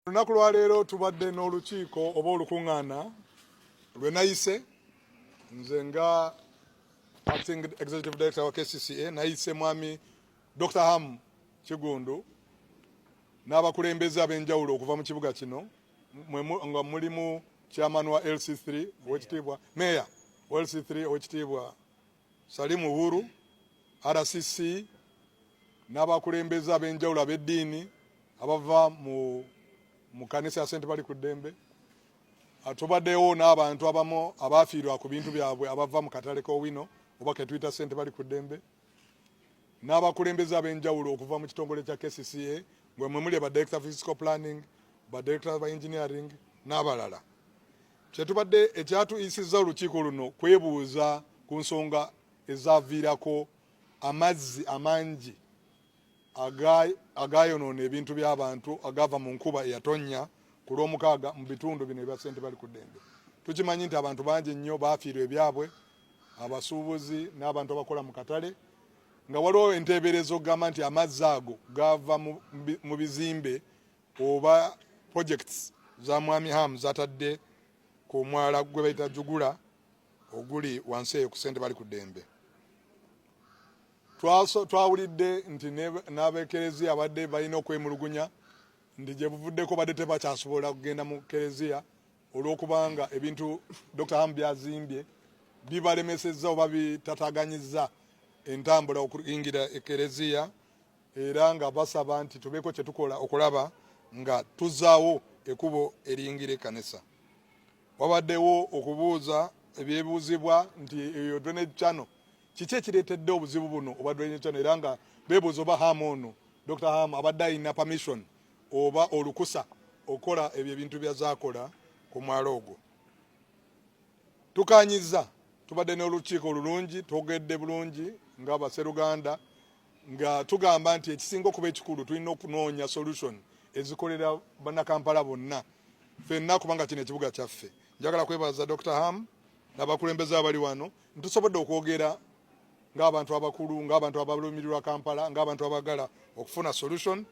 Olunaku lwa leero tubadde n'olukiiko oba olukuŋŋaana lwe nayise nze nga acting executive director wa KCCA nayise mwami Dr. Ham Kigundu n'abakulembeze ab'enjawulo okuva mu kibuga kino nga mulimu chairman wa LC3 owekitiibwa meeya wa LC3 owekitiibwa Salim Uhuru, RCC n'abakulembeze ab'enjawulo ab'eddiini abava mu mu kanisa ya St. Bali ku ddembe atubadewo n'abantu abamu abaafiirwa ku bintu byabwe abava mu katale k'Owino oba ketuyita St. Bali ku ddembe n'abakulembeze ab'enjawulo okuva mu kitongole kya KCCA ngwe mwe muli ba director physical planning ba director ba engineering n'abalala Kyetubadde ekyatuyisizza olukiiko luno kwebuuza ku nsonga ezaaviirako amazzi amangi agaayonoona ebintu by'abantu agaava mu nkuba eyatonnya ku lw'omukaaga mu bitundu bino ebya ssente bali ku ddembe tukimanyi nti abantu bangi nnyo baafiirwa ebyabwe abasuubuzi n'abantu abakola mu katale nga waliwo enteeberezo okugamba nti amazzi ago gaava mu bizimbe oba projects za mwami Ham zatadde ku mwala gwe bayita Jugula oguli wansi eyo ku sente bali ku dembe. Twawulidde nti n'abekereziya abadde balina okwemulugunya nti gye buvuddeko badde tebakyasobola kugenda mu kereziya olw'okubanga ebintu Dr. Ham byazimbye bibalemesezza oba bitataganyizza entambula okuyingira ekereziya era nga basaba nti tubeeko kye tukola okulaba nga tuzaawo ekubo eriyingira ekanisa wabaddewo okubuuza ebyebuuzibwa nti eyo drainage channel kiki ekireetedde obuzibu buno obwa drainage channel era nga beebuuza oba ham ono dr ham abadde alina permission oba olukusa okukola ebyo ebintu byazakola ku mwalo ogwo tukanyiza tubadde n'olukiiko olulungi twogedde bulungi nga baseruganda nga tugamba nti ekisinga okuba ekikulu tulina okunoonya solution ezikolera bannakampala bonna fenna kubanga kino ekibuga kyaffe njagala kwebaza dr ham nabakulembeze abali wano ntusobodde okwogera ngaabantu abakulu ngaabantu abalumirirwa kampala ngaabantu abagala okufuna solution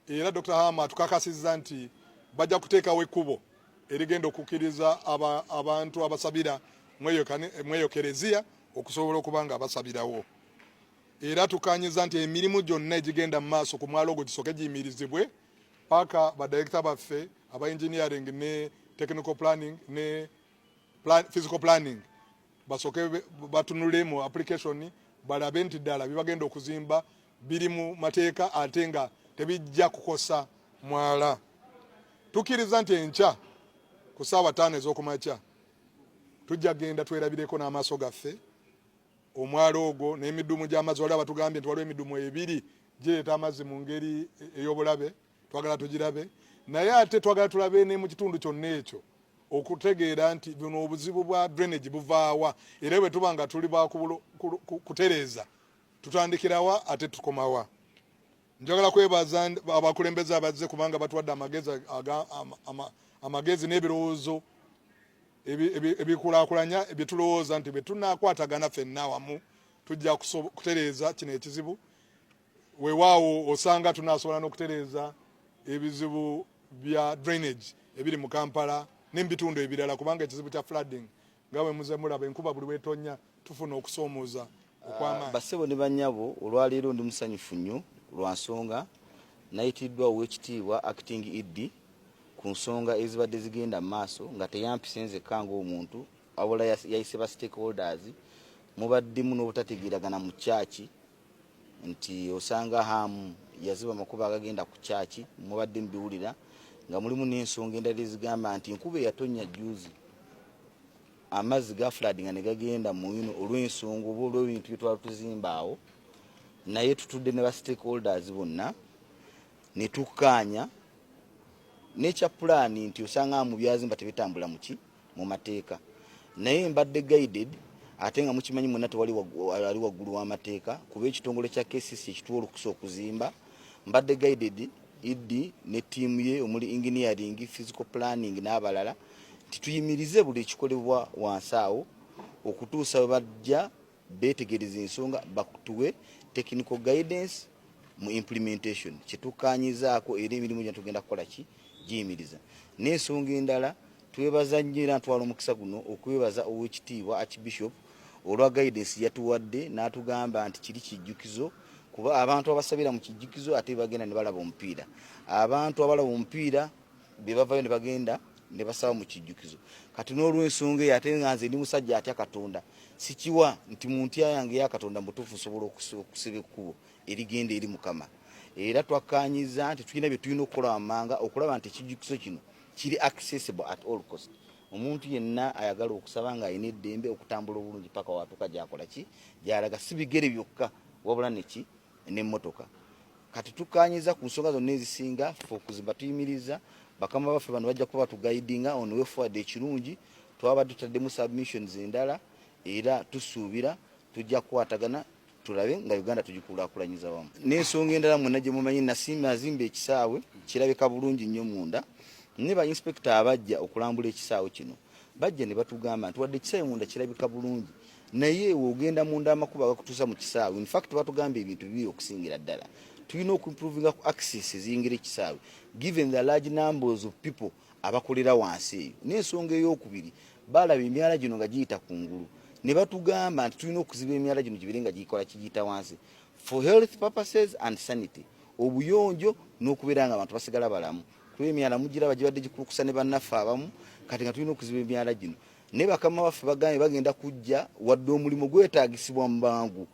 era dr ham atukakasiza nti bajja kuteekawo ekkubo erigenda okukkiriza abantu abasabira mweyo kereziya okusobola okuba nga basabirawo era tukanyiza nti emirimu gyonna egigenda mu maaso ku mwalo ogwo gisooke giyimirizibwe paka badirekita baffe aba engineering ne technical planning ne plan, physical planning basooke batunule mu application balabe nti ddala bibagenda okuzimba biri mu mateeka ate nga tebijja kukosa mwala tukkiriza nti enkya ku saawa taano ez'okumakya tujja genda twerabireko n'amaaso gaffe omwala ogwo n'emidumu gy'amazzi waliwo abatugambye nti waliwo emidumu ebiri gireeta amazzi mu ngeri ey'obulabe twagala tugirabe naye ate twagala tulabe ne mu kitundu kyonna ekyo okutegeera nti buno obuzibu bwa drainage buvaawa era bwe tuba nga tuli bakutereeza tutandikirawa ate tukomawa Njagala kwebaza abakulembeze abazze kubanga batuwadde amagezi amagezi n'ebirowoozo ebikulaakulanya bye tulowooza nti bwe tunaakwatagana fenna wamu tujja kutereeza kino ekizibu weewaawo osanga tunaasobola n'okutereeza ebizibu bya drainage ebiri mu kampala n'emubitundu ebirala kubanga ekizibu kya flooding Nga bwe muzze mulaba, enkuba buli lw'etonnya tufuna okusoomooza okw'amaanyi. Ah, bassebo ne bannyabo, olwaleero ndi musanyufu nnyo lwa nsonga nayitiddwa Oweekitiibwa Acting ED ku nsonga ezibadde zigenda mu maaso nga teyampise nzekka ng'omuntu wabula yayise ba stakeholders mubaddemu n'obutategeeragana mu kyaki nti osanga hamu yaziba amakubo agagenda ku kyaki mubadde mubiwulira nga mulimu n'ensonga endala ezigamba nti enkuba eyatonnya juzi amazzi ga fuladi nga negagenda muyino olw'ensonga oba olw'ebintu byetwali tuzimbaawo naye tutudde ne ba stakeholders bonna netukkaanya nekya pulaani nti osanga mu byazimba tebitambula muki mu mateeka naye mbadde guided ate nga mukimanyi mwena tewali ali waggulu w'amateeka kuba ekitongole kya kcc ekituwa olukusa okuzimba mbadde guided ed ne ttiimu ye omuli engineering physical planning n'abalala nti tuyimirize buli ekikolebwa wansi awo okutuusa we bajja betegereza ensonga bakutuwe technical guidance mu implementation kyetukanyizaako era emirimu gya tugenda kukola ki giyimiriza n'ensonga endala twebaza nnyo era ntwala omukisa guno okwebaza owekitiibwa archbishop olwa guidance yatuwadde n'atugamba nti kiri kijjukizo kuba abantu abasabira mu kijjukizo ate bagenda ne balaba omupiira abantu abalaba omupiira be bavayo ne bagenda ne basaba mu kijjukizo kati n'olw'ensonga eyo ate nga nze ndi musajja atya katonda sikiwa nti mu ntya yange eya katonda mutuufu nsobola okusiba ekkubo erigenda eri mukama era twakkaanyiza nti tulina bye tulina okukola wammanga okulaba nti ekijjukizo kino kiri accessible at all cost omuntu yenna ayagala okusaba ng'alina eddembe okutambula obulungi paka watuuka gyakola ki gyalaga si bigere byokka wabula neki n'emmotoka kati tukkaanyiza ku nsonga zonna ezisinga fe okuzimba tuyimiriza bakama baffe bano bajja kuba batugayidinga on way forward ekirungi twaba tutaddemu submissions endala era tusuubira tujja kukwatagana tulabe nga uganda tugikulaakulanyiza wamu n'ensonga endala mwena gye mumanyi nasimba azimba ekisaawe kirabika bulungi nnyo munda ne ba inspekita abajja okulambula ekisaawe kino bajja ne batugamba nti wadde ekisaawe munda kirabika bulungi naye wogenda munda amakubo agakutuusa mu kisaawe infact batugamba ebintu bibi okusingira ddala tulina okuimprovinga ku access eziyingira ekisaawe given the large numbers of people abakolera wansi eyo n'ensonga eyokubiri balaba emyala gino nga giyita ku ngulu ne batugamba nti tulina okuziba emyala gino gibere nga gikola kigiyita wansi for health purposes and sanity obuyonjo n'okubeera nga abantu basigala balamu kuba emyala mugiraba gibadde gikulukusa ne bannaffe abamu kati nga tulina okuziba emyala gino naye bakama baffe bagambye bagenda kujja wadde omulimu gwetaagisibwa mu bangu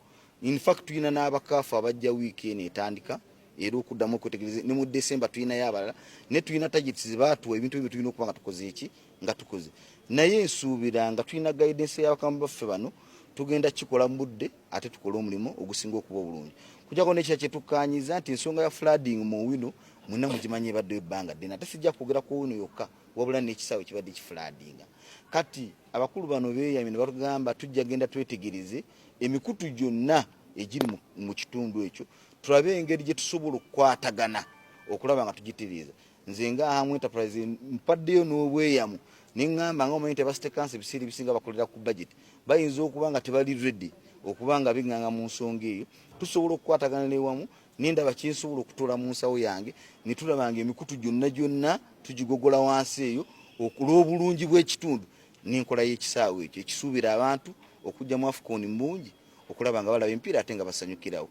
infact tulina n'abakaafu abajja wiiki eno etandika era okuddamu okwetegereza ne mu desemba tulinayo abalala ne tulina tageti zebaatuwa ebintu ebyo tulina okuba nga tukoze eki nga tukoze naye nsuubira nga tulina guidance y'abakama baffe bano tugenda kikola mu budde ate tukole omulimu ogusinga okuba obulungi kujako nekira kyetukkanyiza nti ensonga ya flooding mu wino mwena mugimanyi ebaddewo ebbanga ddene ate sijja kwogera ku ono yokka wabula n'ekisaawe kibadde kifulaadinga kati abakulu bano beeyamye ne batugamba tujja genda twetegereze emikutu gyonna egiri mu kitundu ekyo tulabe engeri gye tusobola okukwatagana okulaba nga tugitereeza nze nga ahamu enterprise mpaddeyo n'obweyamu neŋŋamba nga omanyi nti abasitekansi ebiseera ebisinga bakolera ku budget bayinza okuba nga tebali ready okuba nga binganga mu nsonga eyo tusobola okukwatagana newamu nendaba kyensobola okutola mu nsawo yange netulaba nga emikutu gyonna gyonna tugigogola wansi eyo okulw'obulungi bw'ekitundu n'enkola y'ekisaawe ekyo ekisuubira abantu okujjamu afukoni mungi okulaba nga balaba empiira ate nga basanyukirawo